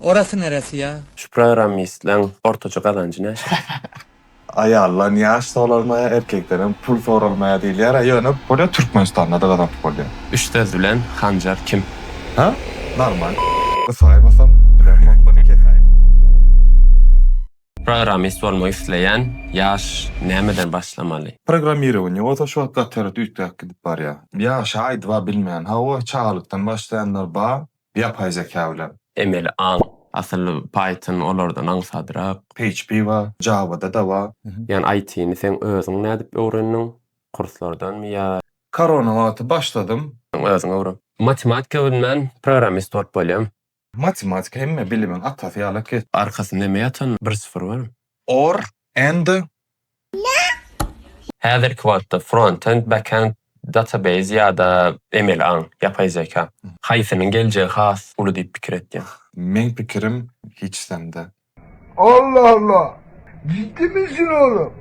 Orasy neresi ya? Şu programmistleň ortaça gazanjy näçe? Aýaldan ýaş soralmaýar, erkekden hem pul soralmaýar diýilýär-a, ýöne bolýar Türkmenistanda-da gazanyp bolýar. Üç söz bilen Hanjar kim? Hä? Normal. Gysaýmasam, bilen gopyny kesäýin. Programmist bolmak isleýän ýaş nämeden başlamaly? Programmirowaniýa bolsa şu wagt gaty ýere üýtgäp gidip barýar. Ýaşy aýdyba bilmen. Hawa, çagalykdan başlaýanlar bar. Ýapaý zeka bilen. Emeli aň. Asyl Python olardan aňsadrak. PHP bar, Java-da-da bar. Jan IT-ni seň özüň nädip öwrendiň? Kurslardanmy ýa. Korona wagty başladym. Özüň öwren. Matematika bilmän programist bolup bolýarmy? Matematika hemme bilimiň atasy ýaly ket. Arkasynda näme ýatan? Bir syfyr barmy? Or and. Häzirki wagtda frontend, backend, database ýa-da emeli aň, ýapaý zeka. Haýsynyň geljegi has uly diýip pikir etýäň? Meň pikirim hiç sende. Allah Allah! Jiddimi sen olam?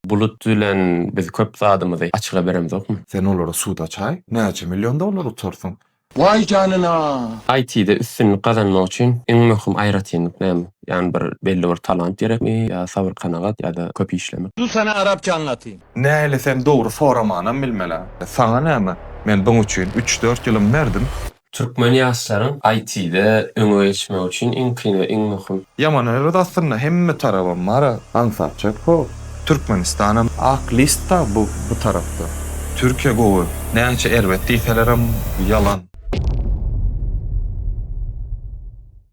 Bulut bilen biz köp zadymyzy açyga beremzokmy? Sen olary suda çay. Näçe million dollar utarsyň. Waý janyna! IT-de üstünlik gazanmak üçin iň möhüm aýratynlyk näme? Ýagny bir belli bir talant gerekmi ýa sabyr-kanagat ýa-da köp işlemek? Du sana arapçaňy atyn. Näli sen dogry soramanam bilmelä. Saňa näme? Men buň üçin üç dört ýylym berdim. Türkmen ýaşlaryň IT-de öňe geçmegi üçin iň kyn we iň möhüm Ýamanyrys aslynda hemme tarabam bara aňsatjak hop Türkmenistanam ak listda bu bu tarapda. Türkiýe gowy näçe erbet diýselerem ýalan.